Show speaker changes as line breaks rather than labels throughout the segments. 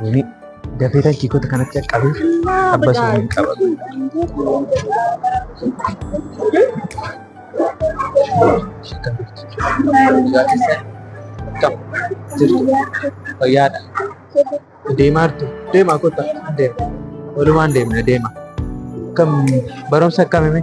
Wani dafee takkii kota kanatti qabu abbas waliin qabatu. Fayyaadha. Deemaa jirtu. Deemaa kota. Deema. Walumaan deemna deema. Kam barumsa akkamii?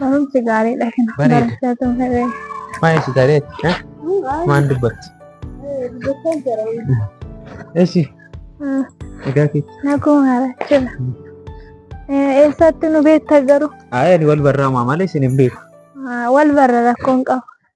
Barumsi
gaariidha kana. Bareeda. Barumsa tun fedhe. Maal si gareeti?
eh? Maal dubbatti?
Dubbachaa jira. Esi
Ah, egaa keetti. Naguma harachuudha.
Eessatti nu beekta garuu? Ayi ani wal barraamaa
malee isin hin beeku. Ah, Wal barra
rakkoon qabu.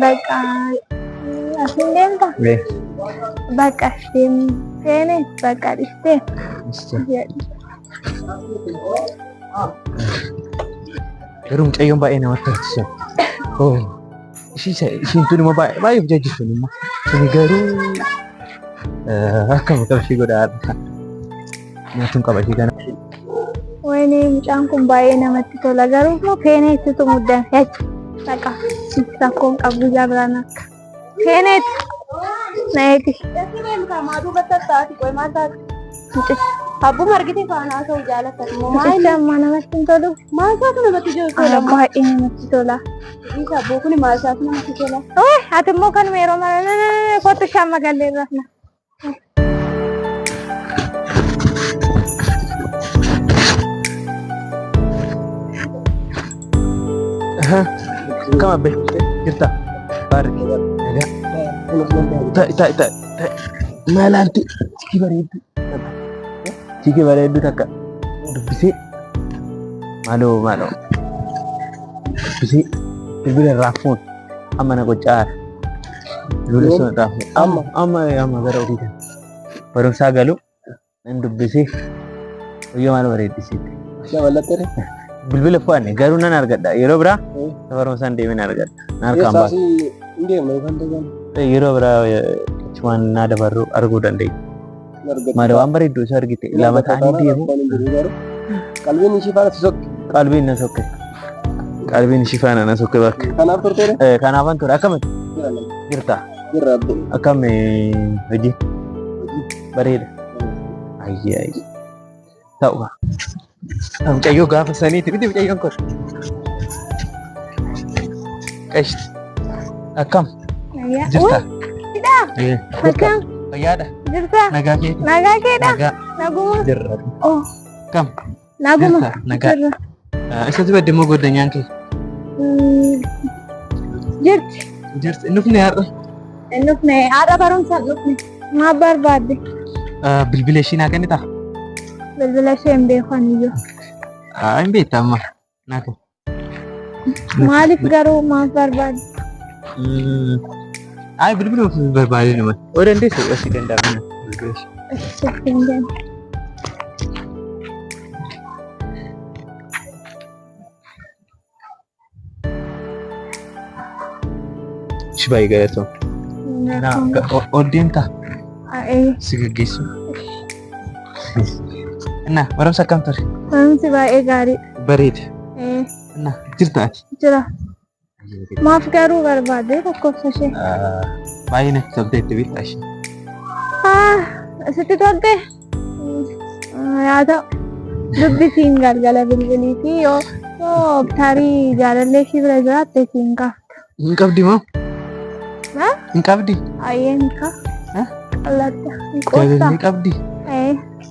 Bakka asiin deemta? Mee. Bakka as deemu seene bakka dhistee jedhu.
Garuu mucayyoon baay'ee namatti tolti sun. Oo. Ishii isa- ishiin tun immoo baay'ee baay'ee hojjechuu sun immoo. Sun garuu eh, akkam ta'u ishii godhaa. Nyaatun qaba ishee kana. Wayne
mucaan kun baay'ee namatti tola garuu immoo peenee itti muddan jecha dhaqa rakkoon qabdu ijaa biraan akka peeneet na eegi. Abbuma argite faana haasa'u jaalata. Mucichi amma namatti hin tolu. Maasaatu namatti tola. Baay'ee namatti tola. Isa abboo kun maasaatu namatti tola. Ati immoo kanuma yeroo mara kottu shamma gallee irraa.
Kam abbe? Jirta. Baari. Ta ta ta. Maalanti sikii bareeddu. Sikii bareeddu takka dubbisee maaloo maaloo dubbisee bilbila irraa fuun. Amma na qoccaara. Lula sun irraa fuudhe. Amma amma amma gara ofii kana. Barumsaa galu nan dubbisee guyyaa maal bareeddisiitti. Ishee mallattee dha.
Bilbila
fo'anne garuu nan argadha. Yeroo biraa barumsaan deemee nan argadha. Na harkaan baasa. Eessaasi hin deemne kan ta'an. Yeroo biraa achumaan naa dabarru arguu dandeenya. Maada waan bareeddu isa argite lama ta'anii deemu. Qalbiin ishii
faana si sokke. Qalbiin na sokke.
Qalbiin ishii faana na sokke bakka. Kanaaf turteera? Eh,
Kanaafan ture akkamitti
jirta? Jirra abbo.
Akkam eh,
hojii? Bareeda. Ayyee ayyee. ta'u. Mucayyoo gaafa saniiti miti mucayyoon kun. Qashti. Akkam jirta? Hidhaa.
Eh, Akkam. Fayyaadha.
Jirta. Nagaa keeti.
Nagaa
keedha. Nagaa
Naguma.
jirra. Oh.
Akkam.
Naguma. Jirta.
Nagaa. Jirra.
Isatti badde immoo goddanyaan kee.
Jirti. Jirti. Inni dhufne
har'a. Inni dhufne
har'a barumsaan dhufne. Maaf barbaadde? Bilbila
ishii naa kennitaa? Bilbila
ishee hin beekan iyyuu. Hin
beekta amma. Naa kenni.
Maaliif garuu maaf barbaadde?
Ay bilbila ofii barbaade nama. Oo dandeessu asii danda'amna. Bilbila ishee. Ishee hin danda'amne. Ishi baay'ee galatoom. Ol deemtaa? Si gaggeessu. Innaa barumsa akkam ture? Barumsi baay'ee
gaariidha. Bareeda.
Innaa jirta ati? Jira.
Maaf garuu barbaade lakkoofsa ishee. Baay'ee
natti tolteetti bitta ishee.
Sitti tolte? Yaa ta'u dubbi siin galgala bilbilii fi yoo yoo tarii jaalallee ishii bira jiraatte siin kaafta. Hin qabdi moo?
Hin qabdi? Ayyee hin
kaafta. Qallatta. Hin qoofta. Jaalallee qabdi?
Ee.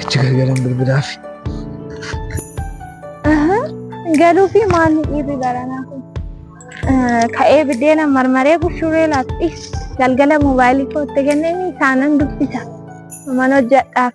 Achi gargaran bilbilaaf.
Galuu fi maalni dhiirri garanaa kun? Ka'ee biddeena marmaree bushuuree laatti galgala moobaayilii kootti kenneen isaanan dubbisa. Mana hojjedhaaf.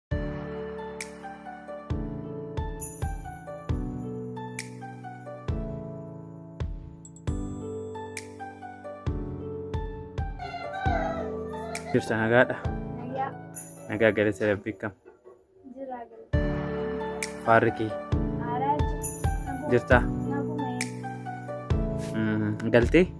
Jirta nagaadha. Nagaa Nagaa galata rabbii kam. jiraa galata. Faarri kee Aaraa jirta. jirta. Nagumee. Mm, Galtee?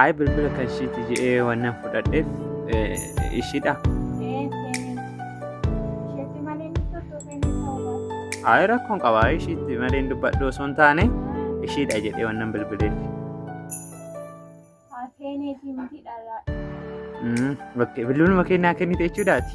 Ayi bilbila kan ishiiti jedhee wannan fudhadheef ishiidha. Ayi rakkoon qaba ishiitti malee hin dubbadhu osoo hin taane ishiidha jedhee wannan bilbileef. Bilbiluma kennaa kennite jechuudhaati.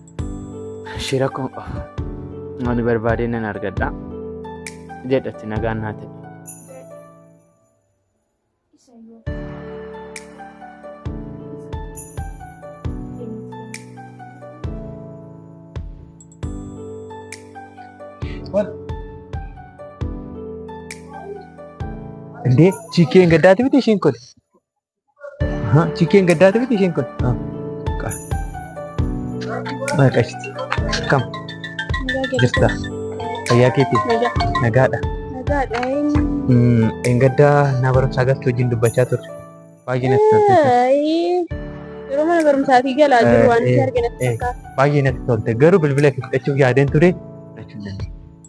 Shira koo
ani barbaadee nan argadha jedhatti nagaan naa ta'e.
Indee chiikeen gaddaati miti ishiin kun. Chikkeen gaddaa ta'e isheen kun. Maqashti. Kam jirta? Fayyaa keeti? Nagaadha.
Nagaadha.
Engaddaa naa barumsaa galtu wajjin dubbachaa turre. Baay'ee natti tolte.
Yeroo mana barumsaatii galaa jiru waan itti argina. Baay'ee natti tolte.
Garuu bilbila itti fudhachuuf yaadeen ture.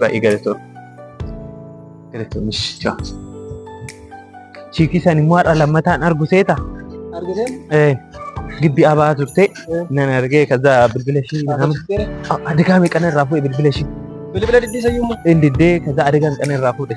Baay'ee galatoom. Galatoomis. Chiikii san immoo har'a lammataan argu seeta. Argitee?
Gibbi
abaa turte nan argee kaza bilbila ishii nama adegaa meeqan irraa fuudhe bilbila ishii. Bilbila diddii
sayyummaa. Diddee kaza adegaa
meeqan irraa fuudhe.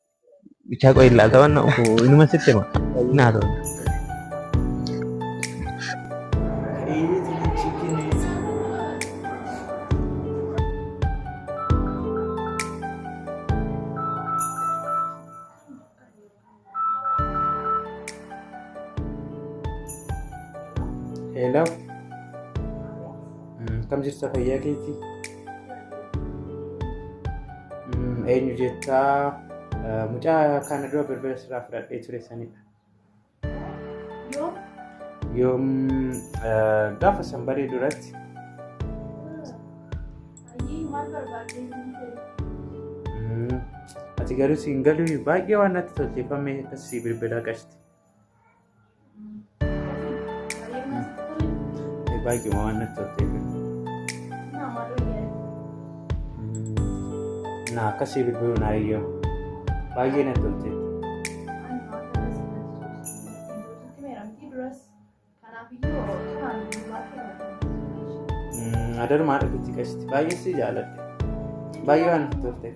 Bichaa qo'ee ilaalta waan na'u inuma sitti hima. Naa ta'u.
Hello. Kam jirta fayyaa keetii? Eenyu jettaa mucaa kana dura birbira sirraa fudhadhee ture sanidha. Yoom gaafa sanbaree duratti ati garuu siin galuu baay'ee waan natti tolteeffamee akkasii bilbilaa qashti. Baay'ee waan natti toltee na akkasii bilbiluu naa iyyoo baay'ee natti toltee. Adarmaa dhabitti qashti baay'ee si jaaladhe baay'ee waan natti toltee.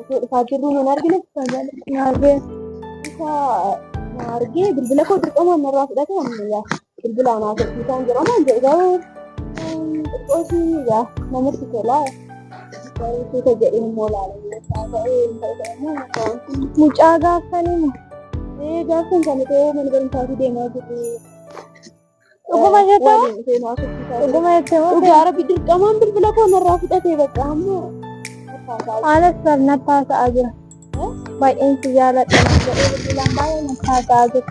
Osoo dhufaa jirru nan argine naargee isa na argee bilbila koo dirqamaan narraa fudhate ammayyaa bilbila anaa tokkiisaan jedhama jedhu garuu xiqqootii yaa namatti tolaa garuu suuta jedhee immoo laalamee isaa ta'ee hin ta'e ta'e immoo mucaan kun mucaa gaaffanima ee gaafsan kan ta'ee mana barumsaatii deemaa jirru Dhuguma jettu waliin dhufee nu haasofsiisaa jira. dhuguma jettu moo Dhugaa rabbi dirqamaan bilbila koo narraa fudhatee bakka amma. Anas barnatti haasa'aa jira. Baay'een si jaaladha naan jedhee bilbilaan baay'ee natti haasa'aa jira.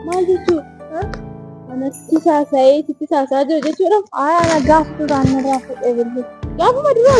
Maal jechuudha? Anatti saasa'ee sitti saasaa jira jechuudha. Aayaa na gaaf duraan narraa fudhee bilbila. Gaafuma duraa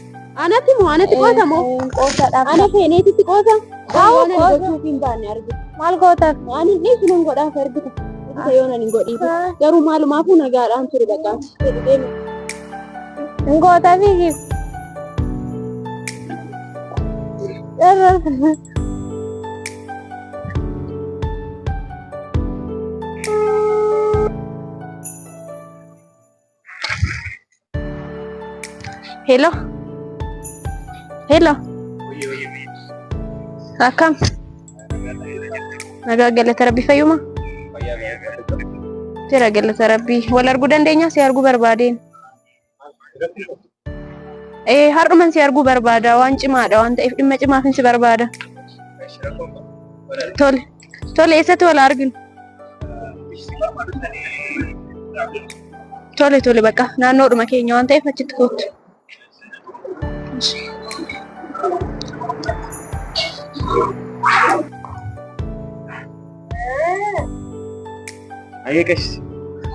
Anatti moo anatti qoota moo? Qoota dhaaf. Ana feeneetitti qoota. Haawwa Waan ani qoota. gochuuf hin baanne argite. Maal gootaaf? Waan hin dhiisu nan godhaaf argite. Isa yoo nan hin godhiisu. Garuu maalumaafuu nagaadhaan ture bakka. Jedhu deemu. Hin gootaaf hiikis. Dharraa. Hello. Hello. Akkam? Nagaa galata rabbii fayyuma? Jira galata rabbii. Wal arguu dandeenya si arguu barbaadeen. Ee har'uman si arguu barbaada waan cimaadha waan ta'eef dhimma cimaafin si barbaada. Tole tole eessatti wal arginu? Tole tole bakka naannoodhuma keenya waan ta'eef achitti koottu.
Ayyee qashti.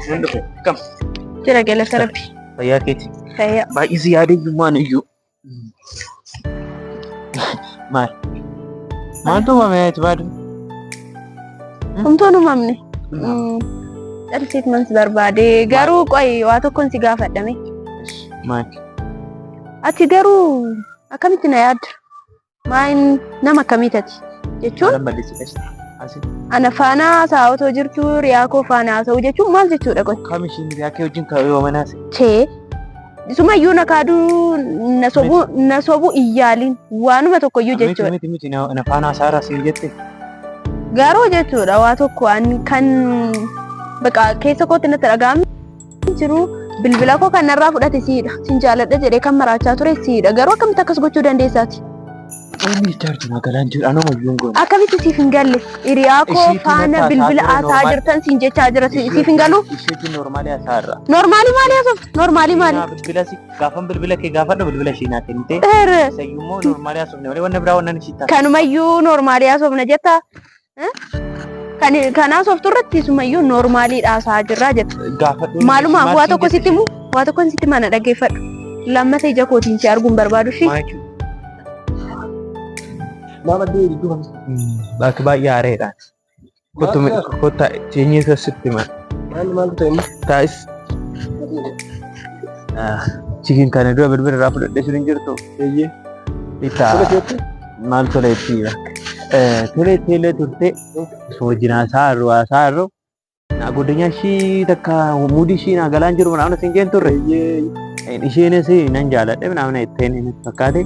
Nan dhufe. Kam. Jira galata
rabbi. Fayyaa keeti.
Fayyaa. Baay'ee si
yaadayyummaan
iyyuu. Maal? Maaltu uumame ati baadu? Humtoon
uumamne. Dhalteet man si barbaade garuu qoy waa tokkoon si gaafadhame. Maal? Ati garuu akkamitti na yaadda? Maayin nama akkamii tati? Jechuun Maal balleessi qashti? Asi. ana faana haasa'aa otoo jirtu riyaa koo faana haasa'u jechuun maal jechuudha qote? Kam ishiin hiriyaa kee wajjin
ta'uu yoo manaase? Chee.
Sumayyuu na kaaduu na sobu na sobu iyyaaliin waanuma tokkoyyuu Miti jechuudha. miti miti na na faana
haasaa irraa siin jette. Garuu
jechuudha waa tokko an kan baqa keessa kootti natti dhaga'ame jiru bilbila koo kan narraa fudhate siidha. Sin jaaladha jedhee kan maraachaa ture siidha. Garuu akkamitti akkas gochuu dandeessaati? Inni
jaarti magaalaan jiru anuma iyyuu goone. Akkamitti siif hin galle?
Hiriyaa koo Ishiitu faana natti bilbila haasaa ture, haasaa normaal. jirtan siin jechaa jira. Si- Siif hin galu? Isheetu normaalii hasaa
irra. Normaalii maalii haasofta?
Normaalii maalii? Bilbila si gaafan
bilbila kee gaafadhu bilbila ishee naa kennite. Erre. Isayyuu immoo normaalii haasofne malee wanna biraa wanna ishii taate. Kanumayyuu normaalii
haasofna jetta. Kan kan haasoftu irratti sumayyuu noormaalii dhaasaa jirraa jette. Gaafadhu. Maaluma
waa tokko sitti
himu waa tokko sitti himu ana dhaggeeffadhu. Lammata ija kootiin si arguun barbaadu shi. Maama deebi
duuba. Bakki baay'ee aareedha. Kottu mi- kotta teenyee isa sitti hima. Maal maal ta'e
inni? Taa'is.
Chikin kana dura bilbila irraa fudhadhee sun hin jirtu. Eeyyee.
Itti
Fudhateetti? Maal tolee tiira. Tolee tiilee turtee osoo jinaa isaa irru haasaa irru. Naa godinyaa ishii takka muudii ishii naa galaan jiru naamna siin jeen turre. Isheenis nan jaaladhe naamna itteen inni fakkaate.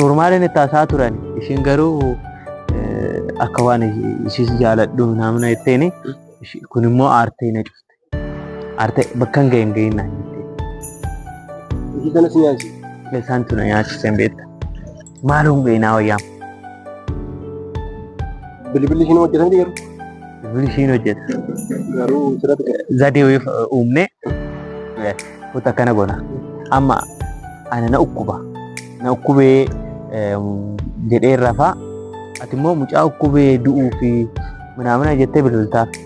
Noormaaliin itti haasaa turan ishiin garuu akka waan ishiis jaaladhu naamna itteen kun immoo aartee na cufte. Arte bakkan ga'e hin ga'iin naan jette.
Hojii kanas nyaatu. Isaan tuna
nyaachise hin beekta. Maaloo hin ga'inaa wayyaa.
Bilbilli ishiin hojjetan garuu. Bilbilli ishiin
hojjeta. Garuu
sirratti ga'e. Zadee wayii uumne
kutu akkana goona. Amma ana na ukkuba. Na ukkubee jedhee rafaa. Ati immoo mucaa ukkubee du'uu fi manaamana jettee bilbiltaaf.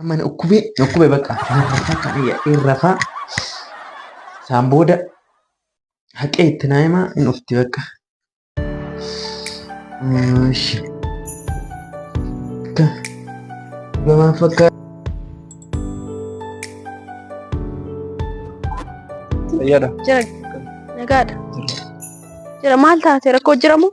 Amma na dhukkubee na dhukkubee bakka rafaa kan yaa'een rafaa saan booda haqee itti naa himaa hin dhufti bakka. Ishi. Akka gamaa fakkaata.
Fayyaadha. Jira.
Nagaadha. Jira maal taate rakkoo jiramoo?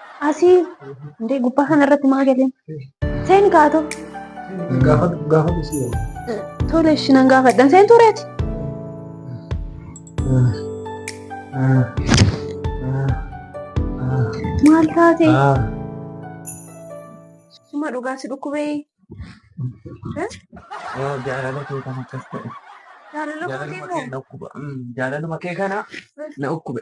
Asii hundee gubbaa kana irratti maa galeen? Seeni kaatu. Gaafa
gaafa dhufuu. Tole ishi
nan gaafadhan seen tureeti. Maal taate? Suma dhugaa si dhukkubee. Jaalala kee
kan akkas ta'e. Jaalala kootii Jaalaluma kee moo?
dhukkuba.
Jaalaluma kee kana na dhukkube.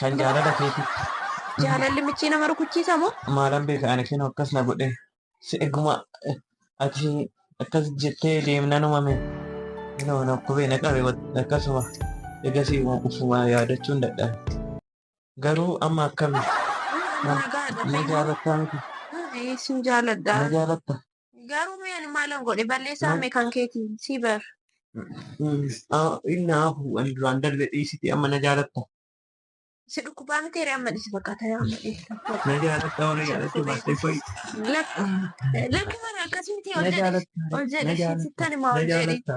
Kan jaalala keetitti. Jaalalli
michii nama rukuchiisa moo? Maalan beeka ani kinoo
akkas na godhee. Si eguma ati akkas jettee deemnan umame. Kinoo na dhukubee na qabe akkasuma egasii ufuma yaadachuun dadhabe. Garuu amma akkami? Na jaalattaa miti? Ee sin
jaaladha. Na jaalatta?
Garuu mee ani
maalan godhe balleessaa mee kan keetiin si bar.
Inni hafu an duraan darbe dhiisiti amma na jaalatta. Si
dhukkubaa miti ree amma dhisi bakka ta'e amma dhisi. Na jaalatta warra
jaalatte baastee koi.
Lakki mana akkasumti ol Na jedhe jaalatta. ol Na jedhe jaalatta.
sittan
himaa Na ol jedhe.
jaalatta.